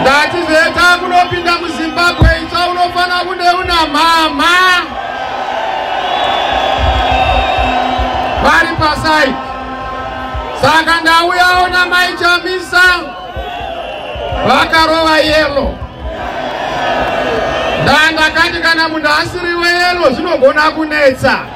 ndatizeta kunopinda muzimbabwe itsva unofanira kunde una mhamha vari pasai saka ndauyawo namai chamisa vakarova yelo ndandakati kana munhu asiri weyelo zvinogona kunetsa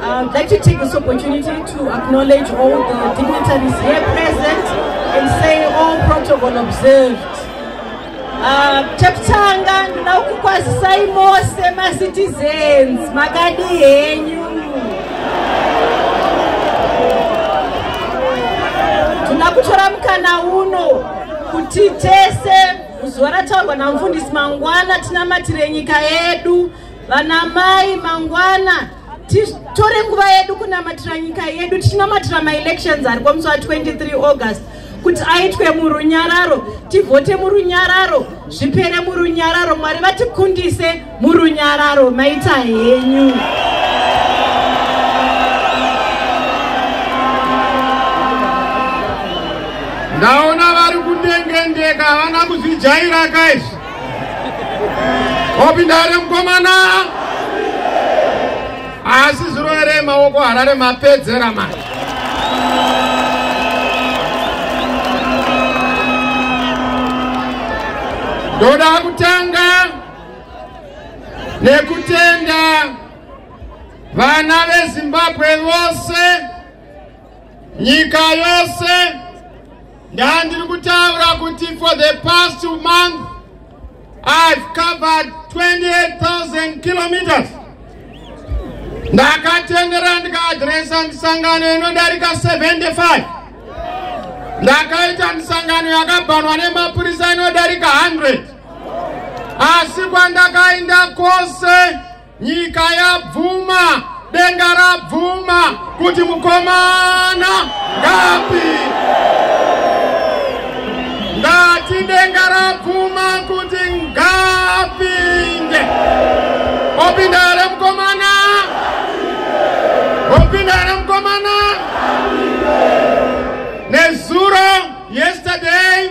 Uh, I'd like to take this opportunity to acknowledge all the dignitaries here present and say all protocol observed. Uh, Chaptanga, ndina kukwazisai mose macitizens makadi henyu tinoda kutora mukana uno kuti tese zuva rataurwa namufundisi mangwana tinamatire nyika yedu vanamai mangwana titore nguva yedu kunamatira nyika yedu tichinamatira maelections ari kwamusi wa 23 august kuti aitwe murunyararo tivhote murunyararo zvipere murunyararo mwari vatikundise murunyararo maita henyu ndaona vari kundengendeka havana kuzvijaira kaizvi wapinda here mukomana asi zuro here maoko harare mapedzera manje ndoda kutanga nekutenda vana vezimbabwe vose nyika yose Ndandiri kutaura kuti for the past two months I've covered 28,000 kilometers. Ndakatendera ndikaadresa misangano inodarika 75. Ndakaita misangano yakabhanwa nemapurisa inodarika 100. Asi kwandakainda kwose Nyika yabvuma, denga rabvuma kuti mukomana ngapi. Ndati denga rabvuma kuti ngapinde. Opinda here mukomana? Opinda here mukomana? Nezuro yesterday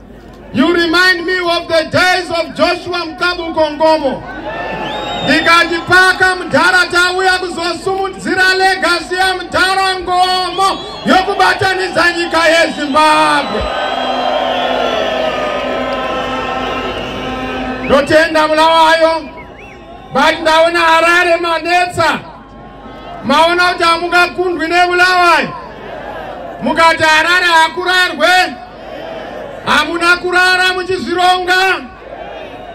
You remind me of the days of Joshua Mkabu Kongomo. Ndikati paka mudhara tauya kuzosumudzira legacy ya mudhara ngomo yokubatanidza nyika yeZimbabwe. Ndotenda Bulawayo, but ndaona Harare manetsa. maona kuti hamungakundwi nebulawayo mukati harare hakurarwe hamuna kurara muchizvironga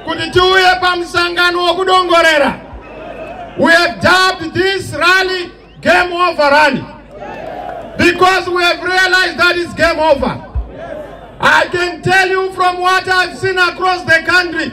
kuti tiuye pamusangano wokudongorera we have dubbed this rally game over rally because we have realized that it's game over i can tell you from what i've seen across the country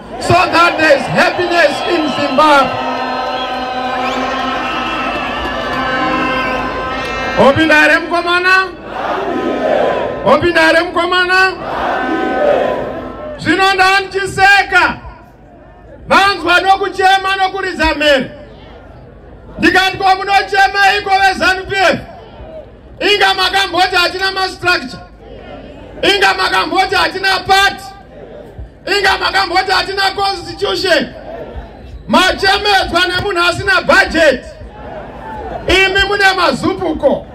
so that there is happiness in zimbabwe opinda here mukomana opinda here mukomana zvino ndanichiseka vanzwa nokuchema nokuridza mhere ndikati ko munochema iko vezanupf inga makamboti hatina mastructure inga makamboti hatina pati Inga makamboti hatina constitution machemedzwa nemunhu asina budget imi mune mazupuko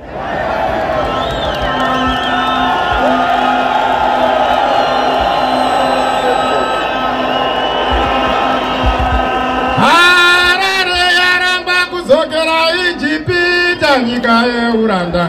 harare yaramba kudzokera ijipita nyika yeuranda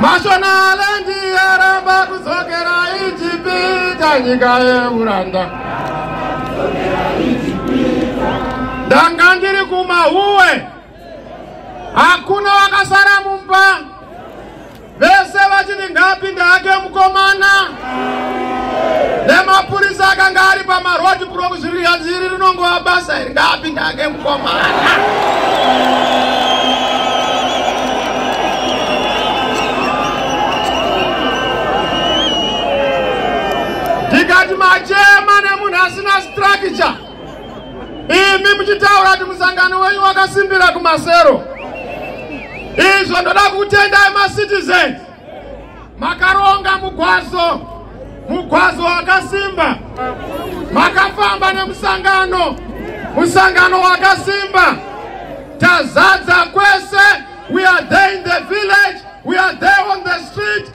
mashonalendi yaramba kudzokera ijipita nyika yeuranda ndanga ndiri kumahuwe hakuna wakasara mumba Vese vachiti ngaapinde hake mukomana nemapurisa akanga ari pamarodi block zviri hanzi iri rinongova basa iri ngaapinde hake mukomana ndikati machema nemunhu asina structure imi muchitaura kuti musangano wenyu wakasimbira kumasero izvo ndoda kutendai macitizens makaronga mugwazo mugwazo wakasimba makafamba nemusangano musangano wakasimba tazadza kwese we are there in the village we are there on the street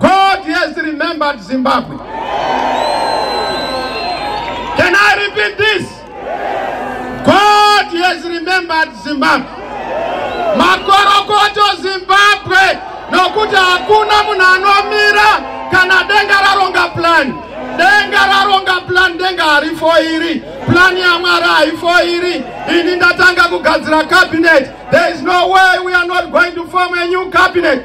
God has remembered Zimbabwe. Can I repeat this? God has remembered Zimbabwe. Makorokoto Zimbabwe nokuti hakuna munhu anomira kana denga raronga plan. Denga raronga plan denga harifo iri. Plan yaMwari haifo iri. Ini ndatanga kugadzira cabinet. There is no way we are not going to form a new cabinet.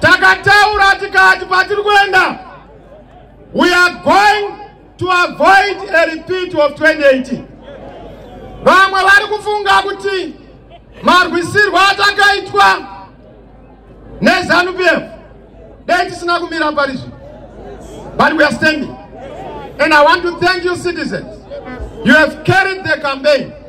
Takataura tikati kwatiri kuenda we are going to avoid a repeat of 2018. Vamwe vari kufunga kuti marwisirwo atakaitwa neZanu-PF dai tisina kumira parizvi but we are standing and I want to thank you citizens you have carried the campaign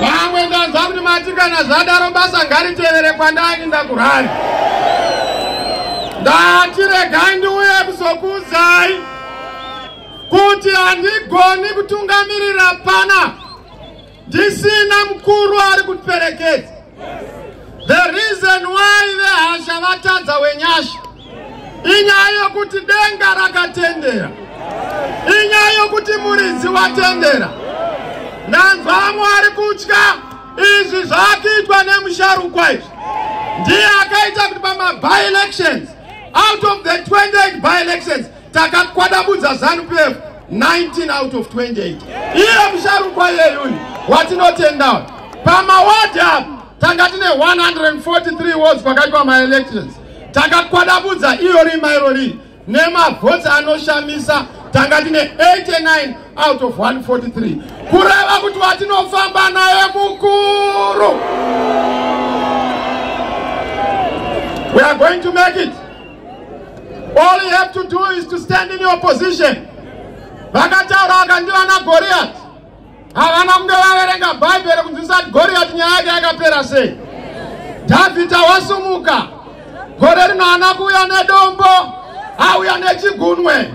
vamwe ndanzwa kuti mati kana zvadaro basa ngaritevere kwandani ndakurari ndati regai ndiuye kuzokuudzai kuti handigoni kutungamirira pana ndisina mukuru ari kuperekedza The reason why vehasha vatadza wenyasha inyaya yokuti denga rakatendera, inyaya yokuti muridzi watendera. Ndanzwa vamwe vari kutya izvi zvaakuitwa nemusharukwa izvi ndiye akaita kuti pama by elections out of the 28 by elections takakwadabudza zanupf 19 out of 28 iye musharukwa yeyuni watinotendawo pamawadi apo tanga tine 143 wards kwakaitwa maelections takakwadabudza iyo rima iro riri nemavhoti anoshamisa tanga tine 89 out of 143 kureva kuti watinofamba naye mukuru we are going to make it All you have to do is to stand in your position. Vakataura vakandi vana Goliath. Havana kunge vaverenga Bible kunzwisa kuti Goliath nyaya yake yakapera sei. David awasumuka. Gore rino ana kuuya nedombo, auya nechigunwe.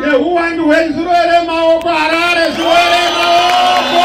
nehuwandu hwezvirwere maoko harare zvirwere maoko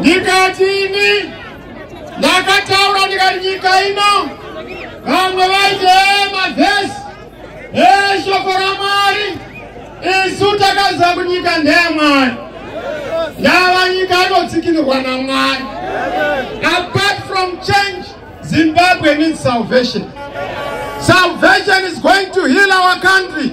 ndikati ini ndakataura ndikati nyika ino vamwe vaiti ee mavhesi ee shoko ramwari isu takaziva kuti nyika ndeyamwari yava nyika inotsikinirwa namwari apart from change zimbabwe needs salvation salvation is going to heal our country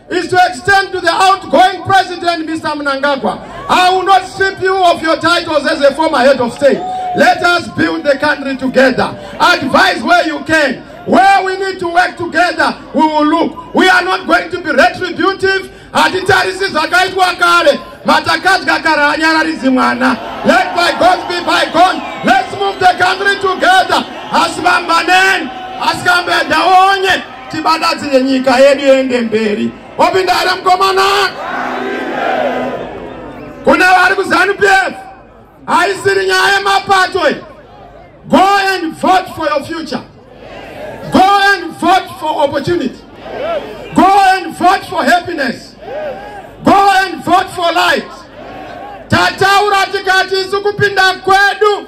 is to extend to the outgoing president, Mr. Mnangagwa. I will not strip you of your titles as a former head of state. Let us build the country together. Advise where you can. Where we need to work together, we will look. We are not going to be retributive. hatitarisi zvakaitwa kare matakadya kare hanyararidzi mwana let by god be by god let's move the country together asi vambaneni asi kambedaonye tibadadzire nyika yedu yende mberi wapinda here mukomana kune vari kuzanu p f haisiri nyaya yemapato go and vote for your future go and vote for opportunity go and vote for happiness go and vote for light tataura tikati isu kupinda kwedu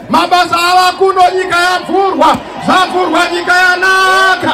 mabasa avakuno nyika yavhurwa zvavhurwa nyika yanaka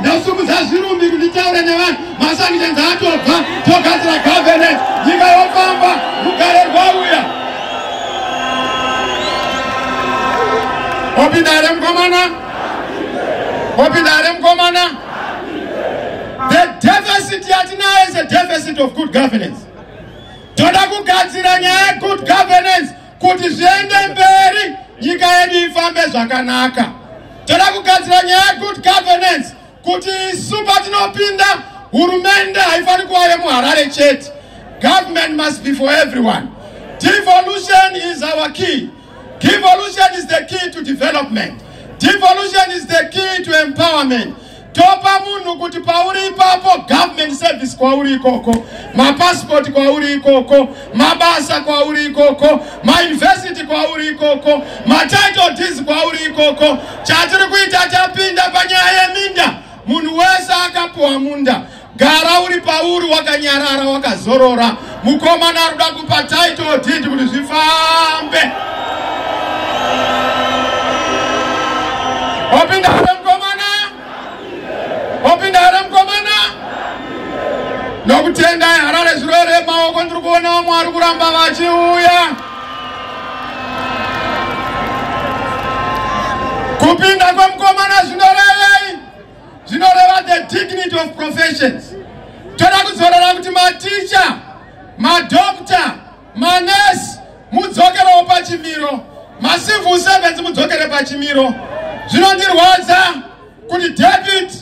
ndasimudza zvirumbi kunditaura nevanhu masanctions atobva togadzira governance nyika yofamba rugare rwauya wapinda here mukomana wapinda here mukomana the deficit yatinayo is a deficit of good governance toda kugadzira nyaya yegood governance kuti zviende mberi nyika yedu ifambe zvakanaka toda kugadzira nyaya yegood governance kuti isu patinopinda hurumende haifaniri kuva yemuharare chete government must be for everyone devolution is our key devolution is the key to development devolution is the key to empowerment topa munhu kuti pauri ipapo government service kwauri ikoko mapasipoti kwauri ikoko mabasa kwauri ikoko mauniversity kwauri ikoko matitle deeds kwauri ikoko chatiri kuita tapinda panyaya yeminda munhu wese akapuwa munda Gara uri pauri wakanyarara wakazorora. Mukomana ari kuda kupa title deed kuti zvifambe. Wapinda here mukomana? Wapinda here mukomana? Nokutenda Harare zvirwere maoko ndiri kuona vamwe vari kuramba vachiuya. Kupinda kwemukomana zvinoreva zvinoreva the dignity of professions toda kuzorora kuti maticha madokta manesi mudzokerewo pachimiro macivil servants mudzokere pachimiro zvinondirwadza kuti david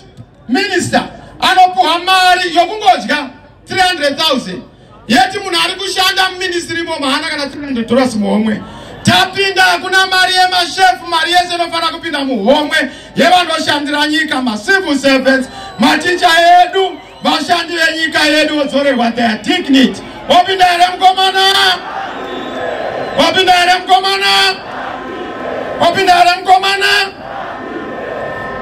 minister anopuhwa mari yokungodya 300 000 yeti munhu ari kushanda muministry imomo hana kana tirindotoras muhomwe tapinda hakuna mari yemashefu mari yese inofanira kupinda muhomwe yevanoshandira nyika macivil servants maticha edu vashandi venyika yedu vodzorerwa their dignity wapinda here mukomana wapinda here mukomana wapinda here mukomana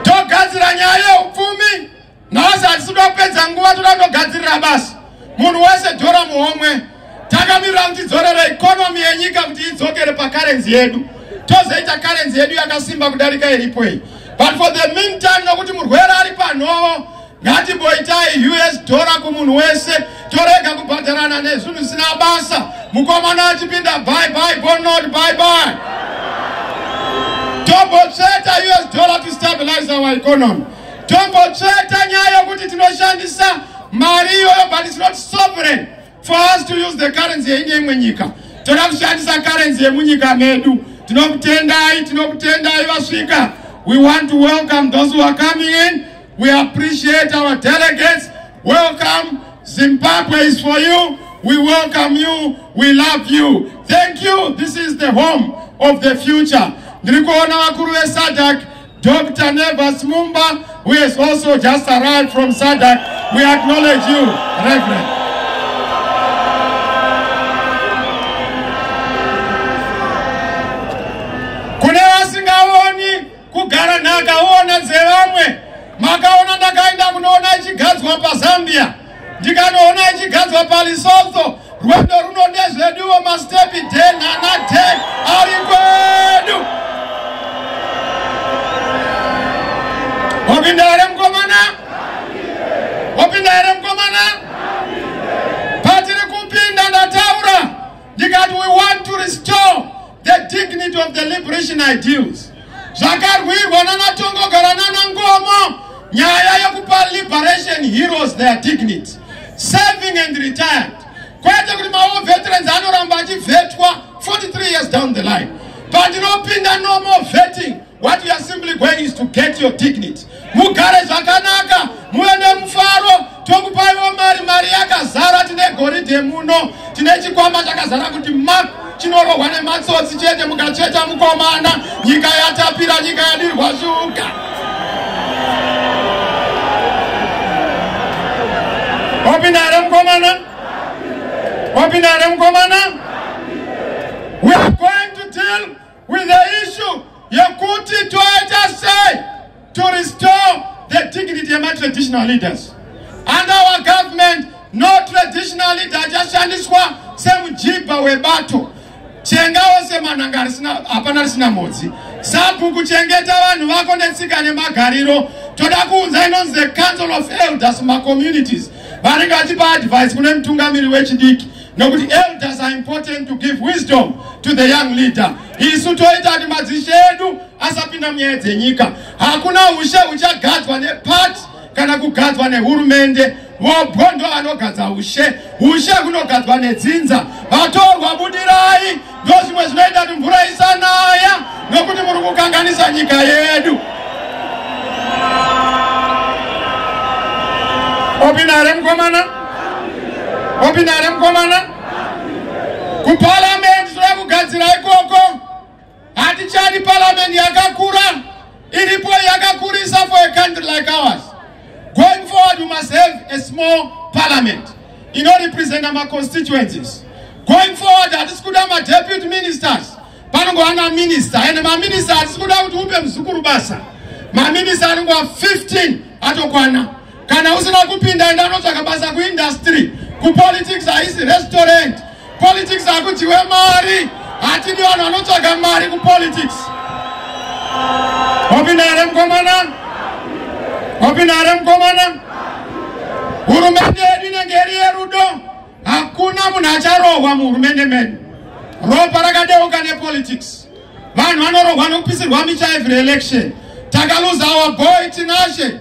togadzira nyaya yeupfumi nhasi hatisido kupedza nguva toda kutogadzirira basi munhu wese dhora muhomwe takamirira kuti tidzorere ikonomi yenyika kuti idzokere pakarenzi yedu tozoita karenzi yedu yakasimba kudarika iripo iyi but for the mean time nokuti murwere ari panhovo ngatimboitai us dhora kumunhu wese torega kubhadharana nezvinhu zvisina basa mukomana achipinda by by bonot by by tombotsveta us dhora to stabilize our economy tongotsveta nyaya yokuti tinoshandisa mari iyoyo but its not sovereign for us to use the currency yeine imwe nyika toda kushandisa currency yemunyika medu tinokutendai tinokutendai vasvika we want to welcome those who are coming in we appreciate our delegates welcome zimbabwe is for you we welcome you we love you thank you this is the home of the future ndiri kuona vakuru vesadak Dr. Nevas Mumba, who has also just arrived from SADC, we acknowledge you, Reverend. Kune vasingaoni kugara nhaka oona dzevamwe makaona ndakaenda kunoona ichigadzwa pazambia ndikanoona ichigadzwa palisotso rwendo runo ndezveduwo mastepi den ana den ari kwedu wapinda here mukomana wapinda here mukomana patiri kupinda ndataura ndikati we want to restore The dignity of the liberation ideals zvakarwirwa nanatongogara nanangomo nyaya yekupa liberation heroes their dignity serving and retired kwete kuti mawo veterans anoramba achivhetwa 43 years down the line pandinopinda normal vetting What you are simply going is to get your dignity. Mugare zvakanaka, muve nemufaro, tokupaiwo mari, mari yakazara, tine goridhe muno, tine chikwama chakazara kuti map chinorohwa nematsotsi chete mukacheta mukomana, nyika yatapira, nyika yadirwa shuga. Wapinda here mukomana? Wapinda here mukomana? We are going to deal With the issue yekuti toita sei to restore the dignity yema traditional leaders. Under our government no traditional leader achashandiswa semujibha webato. Chenga wose manhanga risina hapana risina mhodzi. Sabhuku chengeta vanhu vako netsika nemagariro. Toda kuunza inonzi the council of elders ma communities. Vanenge vachipa advice kune mutungamiri wechidiki. nokuti elders are important to give wisdom to the young leader isu toita kuti madzishe edu asapinda munyaya dzenyika hakuna ushe huchagadzwa nepati kana kugadzwa nehurumende vobwo ndo vanogadza ushe ushe hunogadzwa nedzinza vatorwa budirai Ndozvimwe zvinoita kuti mvura isanaya nokuti muri kukanganisa nyika yedu. Opinare mkomana? Opinare mkomana? Kuparliament zvoya kugadzira ikoko. Hatichadi parliament yakakura. iripo yakakurisa for a country like ours going forward we must have a small parliament inorepresenta maconstituencies going forward hatisi kuda madeputy ministers panongova naminista and maminista hatisi kuda kuti upe muzukuru basa maminista anongova 15 atokwana kana usina kupinda enda unotsvaka basa kuindustry kupolitics haisi restaurant politics hakudyiwe mari hatidi vanhu vanotsvaga mari kupolitics wapinda here mukomana wapinda here mukomana hurumende yedu inenge iri yerudo hakuna munhu acharohwa muhurumende medu ropa rakadeuka nepolitics vanhu vanorohwa nokupisirwa micha every election takaluza our boy tinashe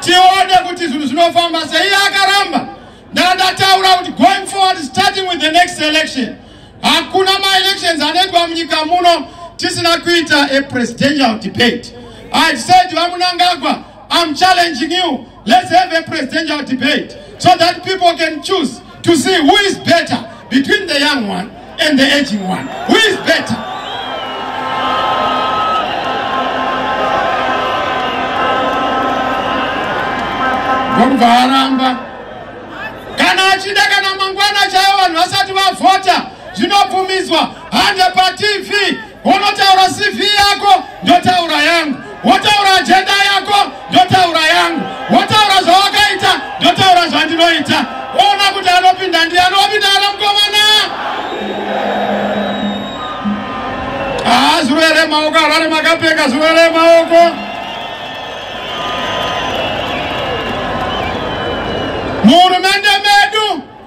tione kuti zvinhu zvinofamba sei akaramba ndandataura kuti going forward starting with the next election hakuna maelections anoitwa munyika muno tisina kuita a presidential debate i said vamunangagwa i'm challenging you let's have a presidential debate so that people can choose to see who is better between the young one and the aging one who is better ndokubva aramba kana achida kana mangwana chaivo vanhu vasati vavhota zvinobvumidzwa hande patv Unotaura CV yako ndotaura yangu, wotaura ajenda yako ndotaura yangu, wotaura zvawakaita ndotaura zvandinoita. Ona kuti anopinda ndiani, wapinda ana mukomana. Haa zvirwere maoko, harare makapfeka zvirwere maoko. Muhurumende medu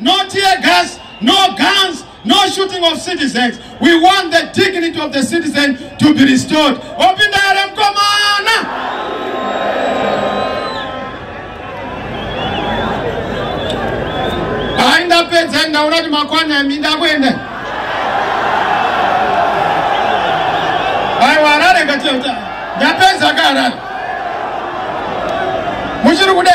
No tear gas, no guns, no shooting of citizens. We want the dignity of the citizen to be restored. Opinda here mkomana? Hayi ndapedza ndaona kuti makwana yami ndakuenda. Hayi warare ngati ndapedza ka harare. Muchiri kude?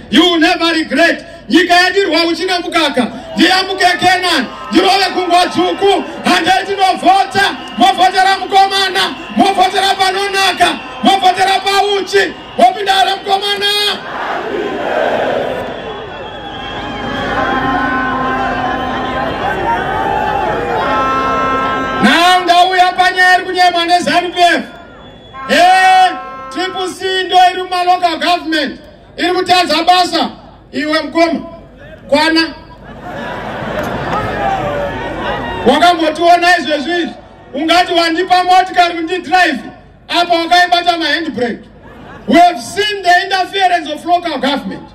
You will never regret. Nyika yadirwa uchi nemukaka. Ndiyamuke Canaan. Ndirove kungwa dzvuku. Handeti novhota. Movhotera mukomana. Movhotera panonaka. Movhotera pauchi. Wopinda here mukomana? Now ndauya panyeri kunyemwa neZanu PF. Eh, Triple C ndoiri mumalocal government. iri kutadza basa iwe mkoma kwana wakambotiona izvezvi izvi ungati wandipa motikari kuti ndidrive apa wakaibata mahandbrake we have seen the interference of local government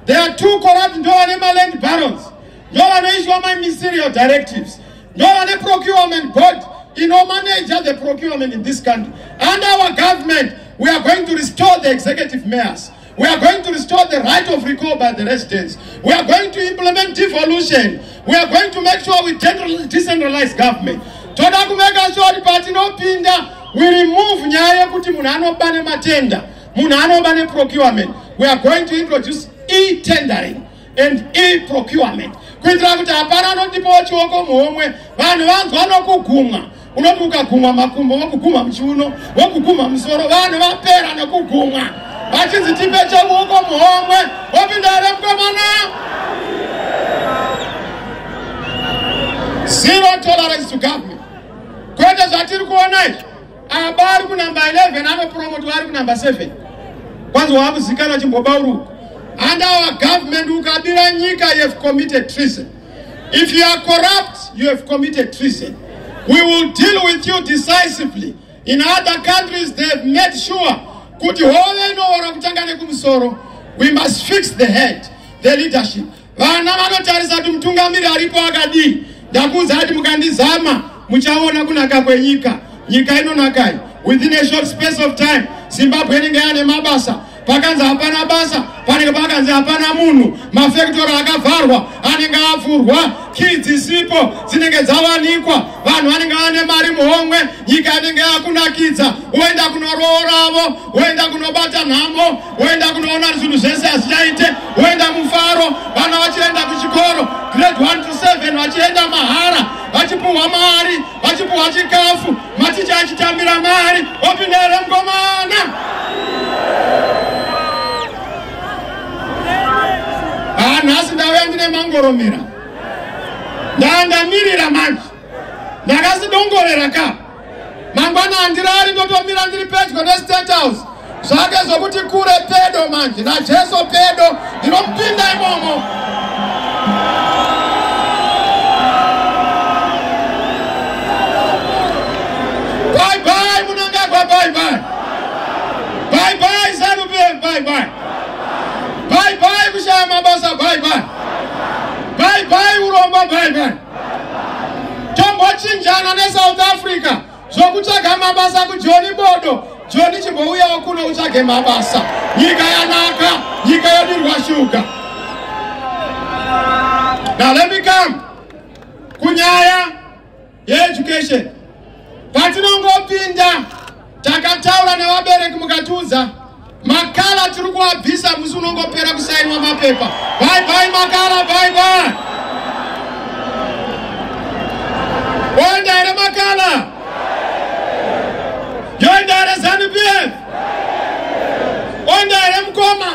they are two corrupt ndo vane maland barons ndo vanoiswa mamysterial directives ndovane procurement board inomanager the procurement in this country under our government we are going to restore the executive mayors we are going to restore the right of recall by the residents we are going to implement devolution we are going to make sure we decentralize government toda kumeka sure patinopinda we remove nyaya yekuti munhu anoba nematenda munhu anoba neprocurement we are going to introduce e-tendering and e procurement kuitira kuti hapana anotipawo chioko muhomwe vanhu vanzwa nokugumwa unoti ukagumwa makumbo vokugumwa muchiuno vokugumwa musoro vanhu vapera nekugumwa vachinzi tipe cheuoko muhomwe vopinda here mukomana zero tolerance to government kwete zvatiri kuona izvi Apa ari kunamba 11 anopromotwa ari kunamba 7 kwanzi waakuzikana chimbobauruka and our government ukabira nyika you have committed treason if you are corrupt you have committed treason we will deal with you decisively in other countries they have made sure kuti hove inoora kutanga nekumusoro we must fix the head the leadership Vana vanotarisa kuti mutungamiri aripo akadii. Ndakuudza kuti mukandizama muchaona kunaka kwenyika. Nyika inonakai. Within a short space of time, Zimbabwe inenge yane mabasa. Pakanzi hapana basa, panenge pakanzi hapana munhu. Mafektori akavharwa, anenge avhurwa, kids isipo dzinenge dzawanikwa, vanhu vanenge vane mari muhomwe, nyika inenge yakunakidza, woenda kunorooravo, woenda kunobata nhamo. woenda kunoona zvinhu zvese hazvichaite woenda mufaro vana vachienda kuchikoro grade 1 to 7 vachienda mahara vachipuhwa mari vachipuhwa chikafu maticha achitambira mari opinda here mukomana haa nhasi ndauya ndine mangoromera ndandamirira manje ndakasidongorera ka mangwana handirari ndotomira ndiri pedyo nestate house zvake zvokuti kure pedo manje najesu pedo ndinomupinda imomo bye bye munangagwa bye bye bye bye zanu pm bye bye bye bye kushaya mabasa bye bye bye bye uromba bye bye tombochinjana nesouth africa zvokutsvaga mabasa kujoni bodo joni chimbouyawo kuno utsvage mabasa nyika yanaka nyika yodirwa shuga now let me come kunyaya yeeducation patinongopinda takataura nevabereki mukatiudza makala tiri kuabvisa musi unongopera kusainwa mapepa bye bye makala bye bye oenda here makala yoenda here zanu pf oenda here mukoma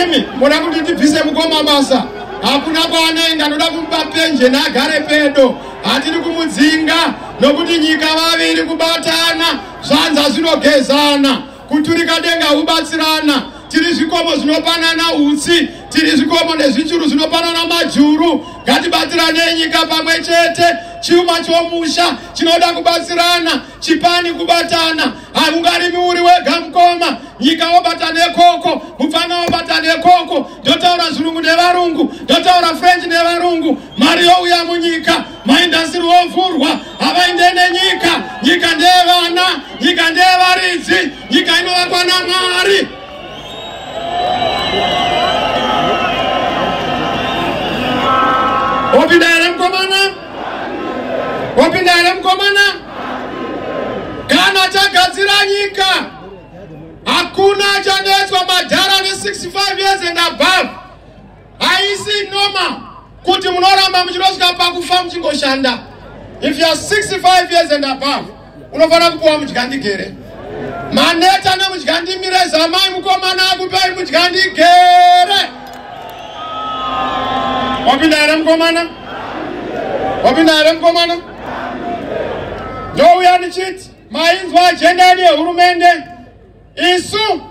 imi moda kuti ndibvise mukoma basa hakuna kwaanoenda ndoda kumupa penjeni agare pedo hatiri kumudzinga nokuti nyika vaviri kubatana Zvanza zvinogezana, kuturika denga hubatsirana, tiri zvikomo zvinopanana utsi, tiri zvikomo nezvichuru zvinopanana majuru. Ngatibatsiranei nyika pamwe chete, chuma chomusha chinoda kubatsirana, chipani kubatana. Haungarimi uri wega mukoma, nyika wobata nekoko, mupfana wobata nekoko. Ndotaura zvirungu nevarungu, ndotaura french nevarungu, mari youya munyika. Maindasiri ovhurwa havainde nenyika. Nyika ndeyevana, nyika ndeyevaridzi, nyika inovakwa naMwari. Wapinda here mukomana? Wapinda here mukomana? Kana tagadzira nyika, hakuna achanetswa madhara ne 65 years and above. haisi noma kuti munoramba muchinosvika pakufa muchingoshanda if youare 65 years and above unofanira kupiwa mudya ndigere maneta nemudya ndimire zamai mukomana akupei mudya ndigere wapinda here mukomana wapinda here mukomana ndouya ndichiti mainzwa ajenda yedu yehurumende isu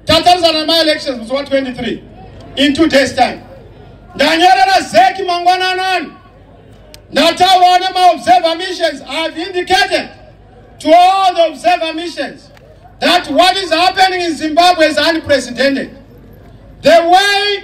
tatarisa nemaelections musi wa 23 in two days time ndanyorera zeki mangwananani ndataura nemaobserver missions ihave indicated to all the observer missions that what is happening in zimbabwe is unprecedented the way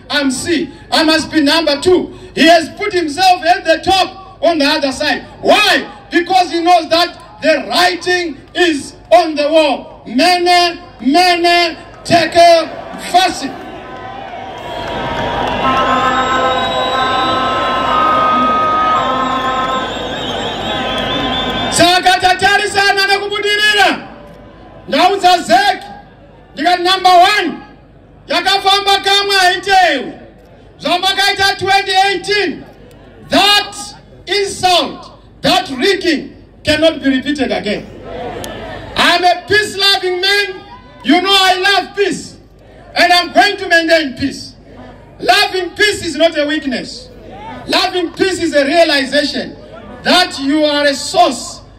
I'm C. I must be number two. He has put himself at the top on the other side. Why? Because he knows that the writing is on the wall. Mene, mene, tekel, fasi. saka tatarisana nekubudirira ndau dzazeki ndikati number one yakafamba kamwe haitewi zvamakaita 2018 that insult that rigging cannot be repeated again i'm a peace loving man you know i love peace and i'm going to maintain peace loving peace is not a weakness loving peace is a realization that you are a source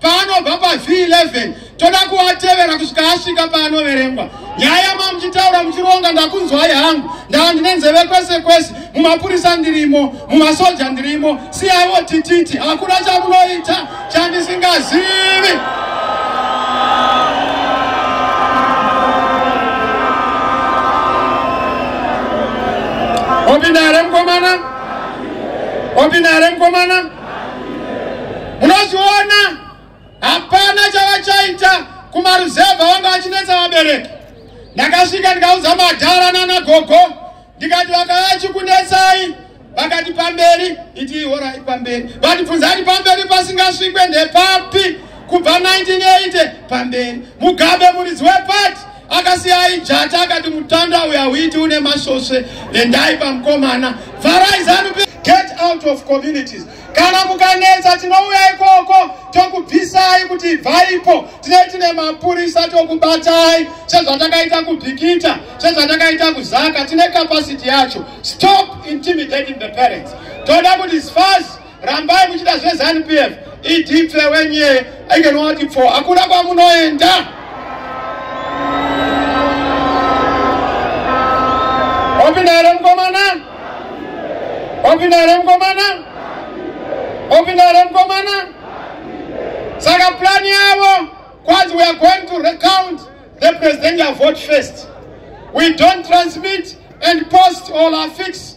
paanobva paz11 toda kuatevera kusvika asvika paanoverengwa nyaya yamamuchitaura muchironga ndakunzwai hangu ndava ndine nzeve kwese kwese mumapurisa ndirimo mumasoja ndirimo siyaiwo tititi hakuna chamunoita chandisingazivi opinda here mukomana opinda here mukomana munozviona hapana chavachaita kumaruzevha vanga vachinetsa vabereki ndakasvika ndikaudza madhara nana gogo ndikati vakayachikunetsai vakati pamberi iti horai pamberi vatibvunzati pamberi pasingasvikwe ndepapi kubva 1980 pamberi mugabe muridzi wepati akasiyai jata akati mutanda uyo hauiti une masvosve endai pamukomana farai zanup get out of communities kana mukanetsa tinouya ikoko tokubvisai kuti ibvaipo tinei tine mapurisa tokubatai sezvatakaita kubhikita sezvatakaita kuzaka tine capacity yacho stop intimidating the parents toda kuti sfas rambai muchida zvezanu pf idipfe wenye aikenowati pfo hakuna kwamunoenda opinda here mukomana opinda here mukomana opinda here mukomana saka plani yavo kwanzi weare going to recount the presidential vote first we don't transmit and post all our fix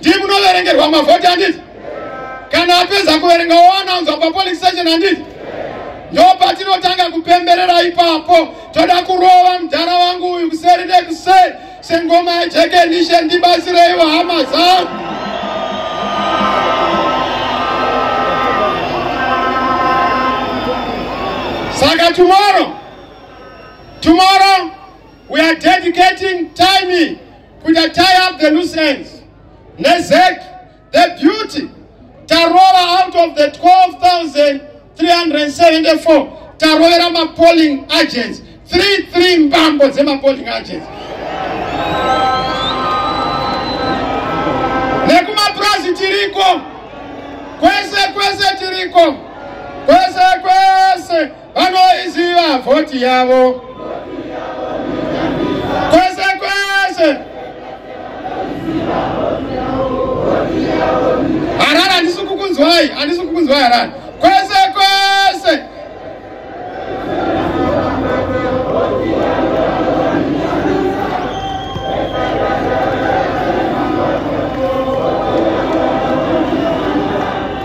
ndii munoverengerwa mavhoti handiti kana apedza kuverenga woanaunzwa papolice station handiti ndo patinotanga kupemberera ipapo toda kurova mudhara wangu uyu kuseri nekuseri sengoma yejekenishe ndibatsireiwo hama zangu saka tomorrow tomorrow we are dedicating time kuita tie up the loose ends nezek the beauty tarova out of the 12374 tarovera mapolling agents 33 mbambo dzemapolling agents nekumapurazi tiriko kwese kwese tiriko kwese kwese vanoiziva vhoti yavo kwese kwese harare handisi kukunzwai handisi kukunzwai harare kwese kwese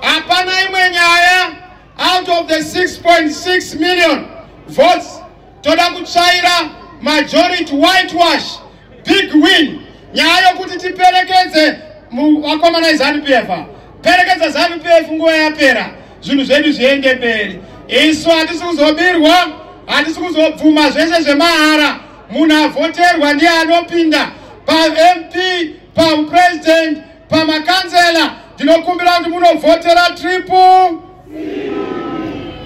Hapana imwe nyaya out of the 6.6 million votes toda kutsvaira majority whitewash big win nyaya yokuti tiperekedze vakomana eZanu PF perekedza Zanu PF nguva yapera zvinhu zvedu zviende mberi isu hatisi kuzobirwa hatisi kuzobvuma zvese zvemahara munhu avhoterwa ndiye anopinda pamp papresident pamakanzela ndinokumbira kuti munovhotera tripu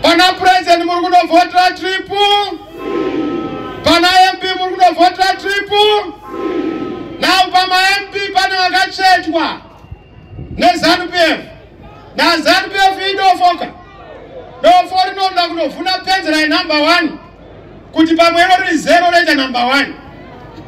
pana purezidenti muri kunovhotera tripu pana mp muri kunovhotera tripu nau pamamp pane vakachetwa nezanupf nazanupf idofoka dofo rinoda kunovhuna penzera yenumber one kuti pamwe iro riri zero roita number one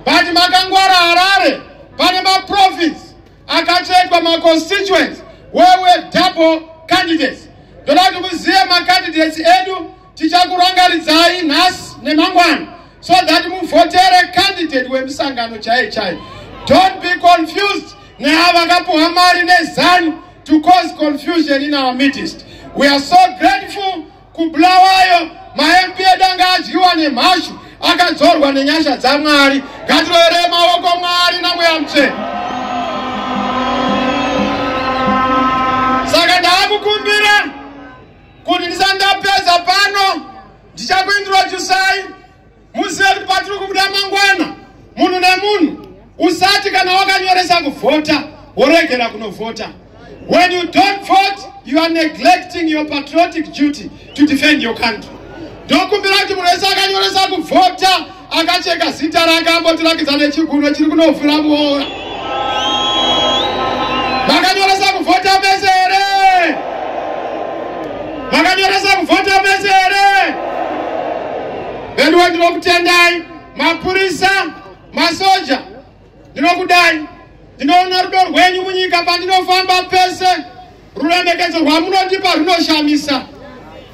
but makangwara harare pane maprofits akatsvetwa maconstituents wewe double candidates ndoda kuti muzive macandidates edu tichakurangaridzai nhasi nemangwana so that muvhotere candidate wemusangano chaiye chaiye don't be confused neava vakapuhwa mari nezanu to cause confusion in our midst we are so grateful kubulawayo mamp edu anga adyiwa nemhashu akadzorwa nenyasha dzamwari ngatiroeree maoko mwari namweya mutsvene saka ndaakukumbira kuti ndisandapedza pano ndichakuindira chusai Muzeri patiri kubuda mangwana, munhu nemunhu usati kana wakanyoresa kuvhota woregera kunovhota. When you don't vote, you are neglecting your patriotic duty to defend your country. Ndokumbira kuti munhu wese akanyoresa kuvhota akacheka zita rake ambotirakidza nechigunwe chiri kunovhura muora. Makanyoresa kuvhota mese here? Makanyoresa kuvhota mese here? Veduwe ndinokutendai mapurisa, masoja, ndinokudai. Ndinoona rudo rwenyu munyika pandinofamba pese, ruremekedzo rwamunotipa runoshamisa.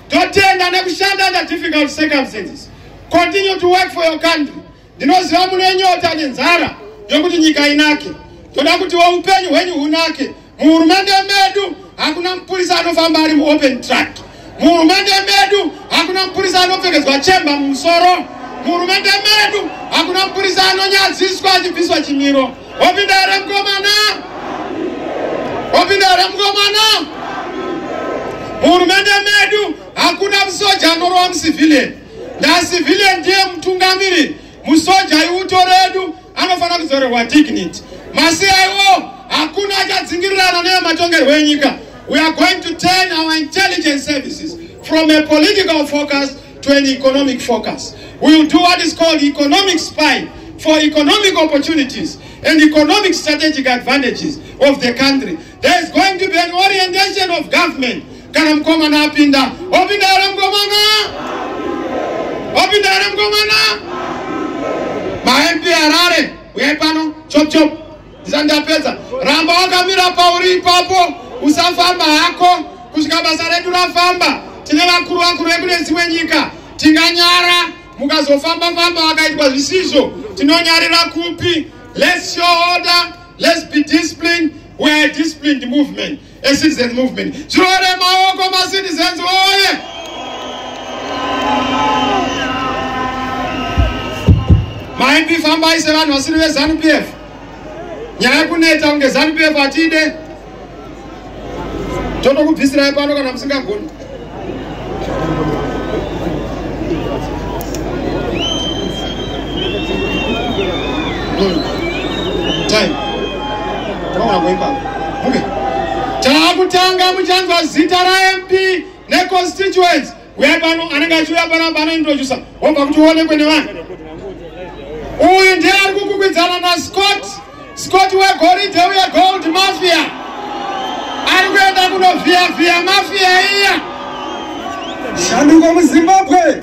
Totenda nekushanda under difficult circumstances. Continue to work for your country. Ndinoziva mune nyota nenzara yokuti nyika inake. Toda kutiwo upenyu hwenyu hunake Muhurumende medu hakuna mupurisa anofamba ari muopen track. Muhurumende medu hakuna mupurisa anopfekedzwa chemba mumusoro. Muhurumende medu hakuna mupurisa anonyadziswa achibviswa chimiro. Wapinda here mukomana? Wapinda here mukomana? Muhurumende medu hakuna musoja anorova mucivilian. Nda civilian ndiye mutungamiri. Musoja iuto redu. anofanira kudzorerwa dignity masi aiwo hakuna achadzingirirana neyematongerwo enyika we are going to turn our intelligence services from a political focus to an economic focus we will do what is called economic spine for economic opportunities and economic strategic advantages of the country there is going to be an orientation of government kana mukomana apinda wapinda here mukomana wapinda here mukomana maempi harare uyai pano chop chop ndisandapedza ramba wakamira pauri ipapo usafamba hako kusvika basa redu rafamba tine vakuru vakuru vekune dzimwe nyika tinganyara mukazofamba famba vakaitwa zvisizvo tinonyarira kupi let's show order let's be disciplined we are a disciplined movement ecitizen movement zviore maoko macitizens oye maimp fambai sevanhu vasiri vezanu p f nyaya yekuneta kunge zanu p f hatide totokubvisirai pano kana musingagoni takutanga muchanzwa zita ramp neconstituents uya pano anenge achiuya pano panointrodusa wobva kuti uonekwe nevanhu uyu ndiye ari kukwikwidzana nascott Scott wegoridhe uye gold mafia ari kuenda kunovhiyavhiya mafia iya shanduko muzimbabwe